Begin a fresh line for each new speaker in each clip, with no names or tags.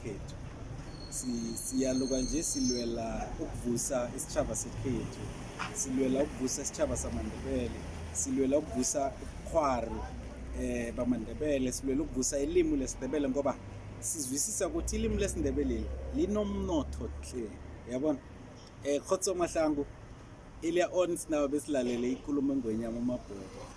khethu siyaluka nje silwela ukuvusa isitshaba sekhethu silwela ukuvusa isitshaba samandebele silwela ukuvusa ubukhwari eh bamandebele silwela ukuvusa ilimu lesindebele ngoba sizwisisa ukuthi ilimu lesindebele linomnotho hle yabona eh khotso mahlangu earlier on sinabe besilalele inkulumo engwenyama umabhoko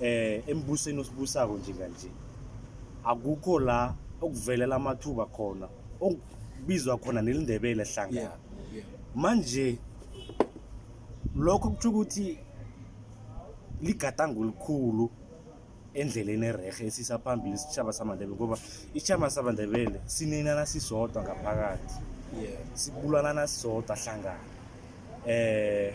eh embusweni
osibusako njenganje akukho la okuvelela amathuba khona okubizwa khona nelindebele hlangana manje lokho kuthi ukuthi ligadango elikhulu endleleni erehe esisa phambili isitshaba samandebele ngoba isitshaba samandebele sinenana sisodwa ngaphakathi
sibulanana
sisodwa hlangana eh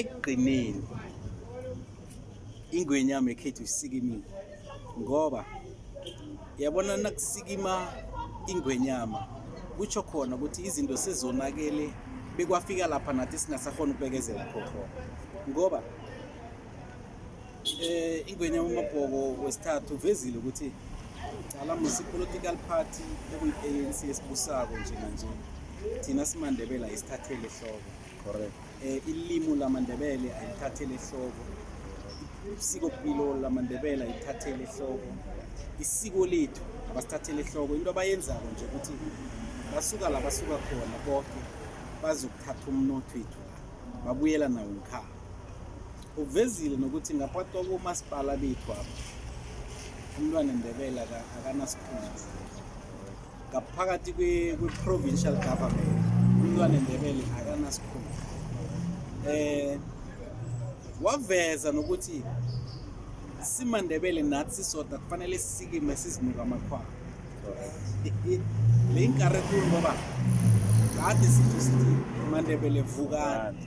ekugcineni ingwenya yami ekhethu isikimile ngoba yabona nakusikima ingwenyama kutsho khona ukuthi izinto sezonakele bekwafika lapha nathi singasakhona ukubekezela khona ngoba Eh ingwenya uMabhoko wesithathu uvezile ukuthi cala musi political party ekuyi-ANC esibusako njenganje thina simandebele ayisithathele ehloko correct eh
ilimi
lamandebele ayithathele ehloko isiko pilo lamandebele ayithathele ehloko isiko lethu abasithathele ehloko into abayenzako nje ukuthi basuka la basuka khona bonke bazokuthatha umnotho wethu babuyela nawo ngikhaya uvezile nokuthi ngaphathi kwakomasipala bethu apha umntwana ndebela akanasikhundla ngaphakathi kwe-provincial government umntwana ndebele akanasikhundla eh waveza nokuthi simandebele nathi sisodwa kufanele sisikime sizinuka amakhwaba le inkarekhulu ngoba kade sithi sithi mandebele vukani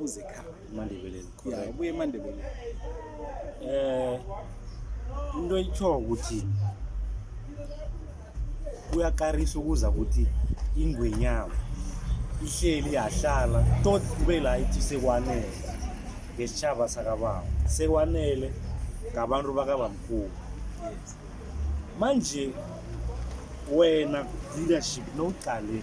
uzekhaya emandebeleni ya ubuye emandebeleni eh
into itsho ukuthi kuyakarisa ukuza ukuthi ingwenyama ihleli yahlala tot kube la ithi sekwanele ngesitshaba sakababa sekwanele ngabantu bakabamkhulu manje wena leadership nowuqale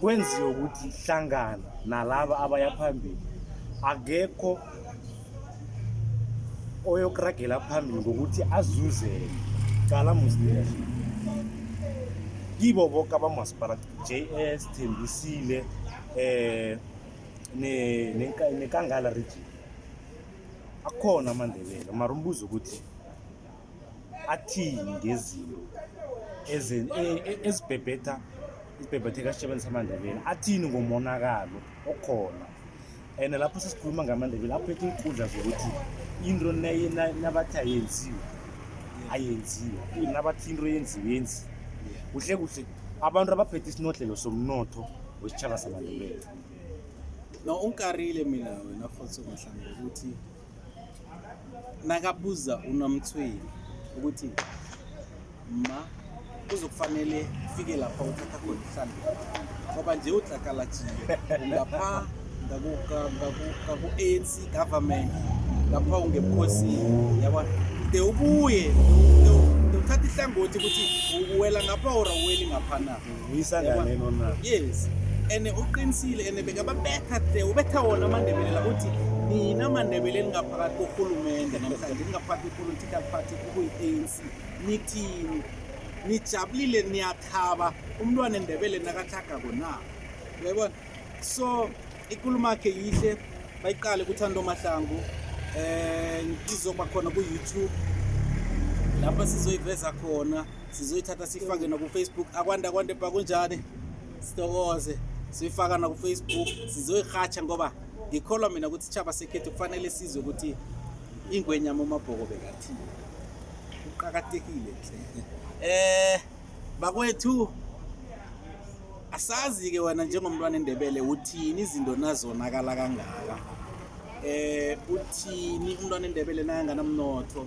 kwenziwe ukuthi hlangana nalaba abaya phambili akekho oyokuragela phambili ngokuthi azuzele cala muslims kibo boke abamasipala j s thembisile um nekangala region akhona amandebele mara umbuzo ukuthi athini ngezinto e, e, ezibhebhetha isibhebhetheka esitshebeni samandebele athini ngomonakalo okhona and lapho sesikhuluma ngamandebele aphethe inkundla zokuthi into nabathi ayenziwe ayenziwe nabathi into yenziwe yenziwe kuhle kuhle abantu abaphethe isinodlelo somnotho wesitshaba samandebele
no ungikarile mina wena futhi umhlanga ukuthi nakabuza unomthweni ukuthi ma kuzokufanele ufike lapha uthatha khona ihlambi ngoba nje udlakalatshile ngapha ngaku-anc government ngapha ungebukhosini yaba de ubuye de uthatha ihlangothi ukuthi uwela ngapha or awuweli ngapha na
yes and
uqinisile and bekababetha the ubetha wona amandebele la uthi nina mandebele elingaphakathi korhulumente namhlanje lingaphakathi kwepolitical party kukuyi-anc nithini nijabulile niyathaba umntwana endebele nakathagako na uyayibona so ikulumo yakhe yihle bayiqale kuthando mahlangu um izoba khona ku-youtube lapha sizoyiveza khona sizoyithatha siyifake nakufacebook akwanda kwande bha kunjani sitokoze siyoyifaka nakufacebook sizoyirhatsha ngoba ngikholwa mina ukuthi ichaba sekhethu kufanele sizwe ukuthi ingwenyama umabhoko bekathi kuqakathekile nhle eh bakwethu asazi-ke wena njengomntwana endebele uthini izinto nazonakala kangaka eh uthini umntwana endebele nakanganamnotho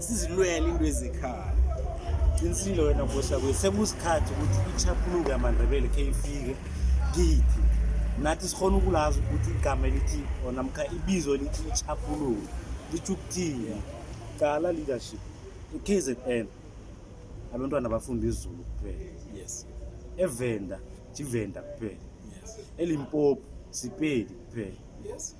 sizilwele into ezikhaya qinisile
wena bosha kwethu sekusikhathi ukuthi ichaphuluko yamandebele khe ifike kithi nathi sikhona ukulazi ukuthi igama elithi or namkha ibizo elithi ichaphuluko litho ukuthini cala leadership i-k z n abantwana bafunda izulu kuphela yes
evenda
jivenda kuphela yes
elimpopo
sipedi kuphela yes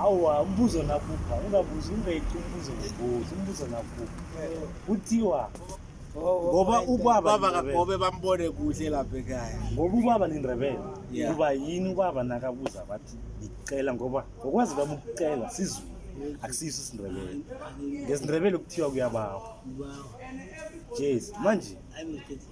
awa
umbuzo nakupha ungabuzi ungayiqi umbuzo ngobuzi umbuzo nakupha kuthiwa ngoba ubaba kagobe bambone
kuhle lapha ekhaya ngoba ubaba nindrebele
kuba yini ubaba nakabuza bathi ngicela ngoba ngokwazi kwami ukucela sizulu akusiso isindrebele ngesindrebele kuthiwa kuyabawa
jesu manje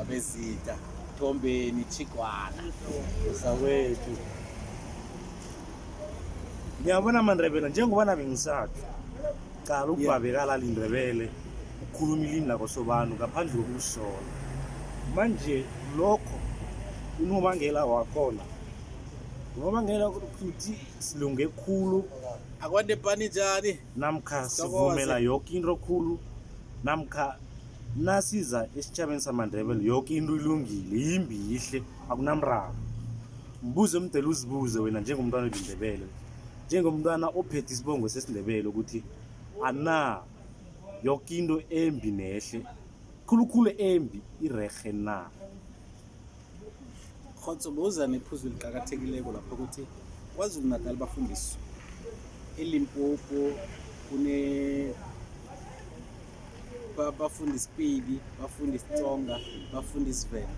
Abezita Thombeni Chigwana usawethu
Ngiyabona amaNdebele njengoba nabe ngisathu qala ukubhabekala lindebele ukukhuluma ilimi lakho sobanu ngaphandle kokusola manje lokho unobangela wakhona unobangela ukuthi silunge khulu akwande pani
njani namkha sivumela
yoke into khulu namkha nasiza esitjhabeni samandebele yoke into ilungile yimbi yihle akunamraro mbuze mdele uzibuze wena njengomntwana olindebele njengomntwana ophethe isibongo sesindebele ukuthi ana yoke into embi nehle khulukhulu embi irerhe na
khotso buza nephuzu eliqakathekileko lapho ukuthi kwazulu natal bafundiswa elimpopo kune bafunda isipili bafunda isitsonga bafunda isivenda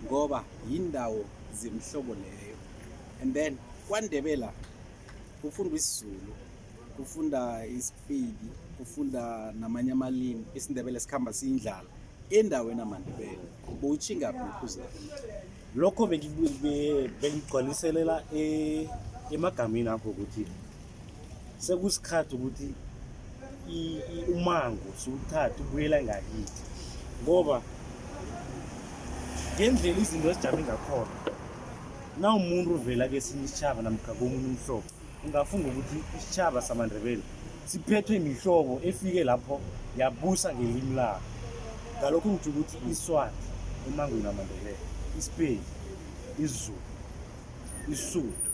ngoba yindawo zemihlobo leyo and then kwandebela kufundwa isizulu kufunda isipili kufunda namanye amalimi isindebele sikhamba siyindlala endaweni amandebele bowutshinga bukhuze lokho
bengigcwaliselela e, emagameni akho ukuthi sekusikhathi ukuthi umango siwuthathe ubuyela ngakithi ngoba ngendlela izinto ezijame ngakhona na umuntu uvela kesinye isitshaba namkha komunye umhlobo ungafunga ukuthi isitshaba samandebele siphethwe imihlobo efike lapho yabusa ngelimi labo ngalokho ngitsho ukuthi iswati emangweni amandebele isipedi isizulu isuthu